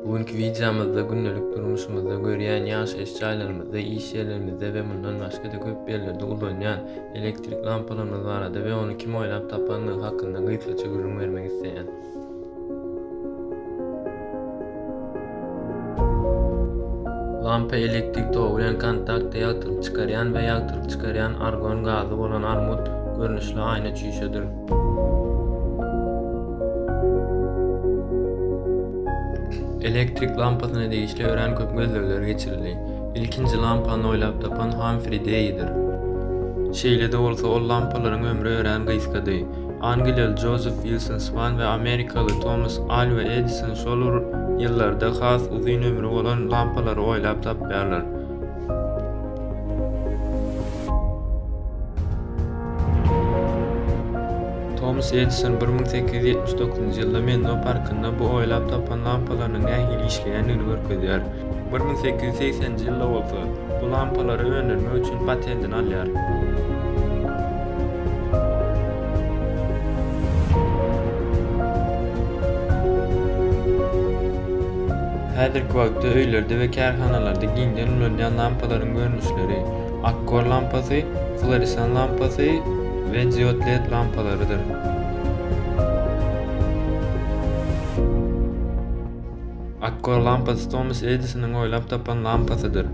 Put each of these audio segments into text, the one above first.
Bu günki wideomyzda gündelik durmuşymyzda görýän ýaşaýyş jaýlarymyzda, iş ýerlerimizde we mundan başga-da köp ýerlerde ulanýan elektrik lampalarymyz barada we ony kim oýlap tapandygy hakynda gysgaça gürrüň bermek isleýän. Lampa elektrik togy bilen kontaktda ýagtylyk çykarýan we ýagtylyk çykarýan argon gazy bolan armut görnüşli aýna çüýşedir. Elektrik lampasyna degişli örän köp gözlegler geçirildi. Ilkinji lampany oýlap tapan Hamfri Deýidir. Şeýle-de bolsa, ol lampalaryň ömri örän gysgady. Angliýaly Jozef Wilson Swan we amerikaly Tomas Alwa Edison şol ýyllarda has uzyn ömri bolan lampalary oýlap tapýarlar. Tomas Edison bir müň sekiz ýüz ýetmiş dokuzynjy ýylda Menlo parkynda bu oýlap tapan lampalarynyň nähili işleýändigini görkezýär. Bir müň sekiz ýüz segsenji ýylda bolsa, bu lampalary öndürmek üçin patentini alýar. Häzirki wagtda öýlerde we kärhanalarda giňden ulanýan lampalaryň görnüşleri, Akkor lampasy, Floresan lampasy we Diod led lampalarydyr. Akkor lampasy Tomas Edisonyň oýlap tapan lampasydyr.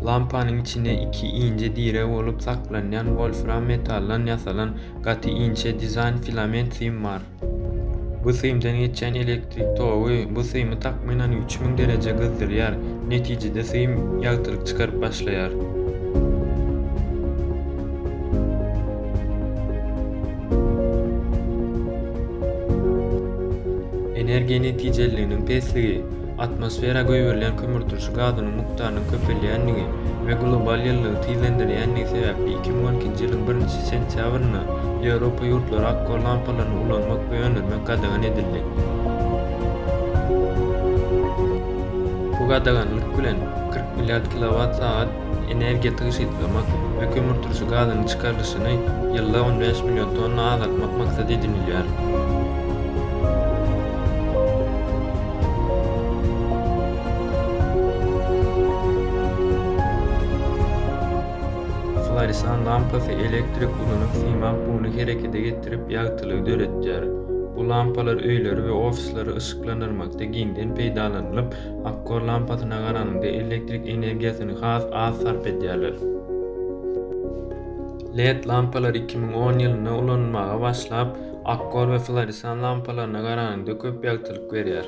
Lampanyň içinde iki inçe direg bolup saklanýan wolfram metaldan ýasalan gaty inçe dizaýn filament sim bar. Bu simden geçýän elektrik togy bu simi takmynan üç müň dereje gyzdyrýar, netijede sim ýagtylyk çykaryp başlaýar. Energiýa netijeliliginiň pesligi Atmosfera goýberilýän kömürturşy gazynyň mukdarynyň köpelýändigi we global ýylylygy tizlendirýändigi sebäpli iki müň on ikinji ýylyň birinji sentýabrynda Ýewropa ýurtlary akgor lampalaryny ulanmak we öndürmek gadagan edildi. Bu gadaganlyk bilen kyrk milliard kilowat sagat energiýa tygşytlamak we kömürturşy gazynyň çykarylyşyny ýylda on bäş million tonna azaltmak maksat edinilýär. Floresan lampasy elektrik ulanyp, siýmap buny herekete getirip, ýagtylygy döretýär. Bu lampalar öýleri we ofisleri yşyklandyrmakda giňden peýdalanylyp, Akkor lampasyna garanyňda elektrik energiýasyny has az sarp edýärler. Led lampalar iki müň on ýylynda ulanylmaga başlap, akkor we floresan lampalaryna garanyňda köp ýagtylyk berýär.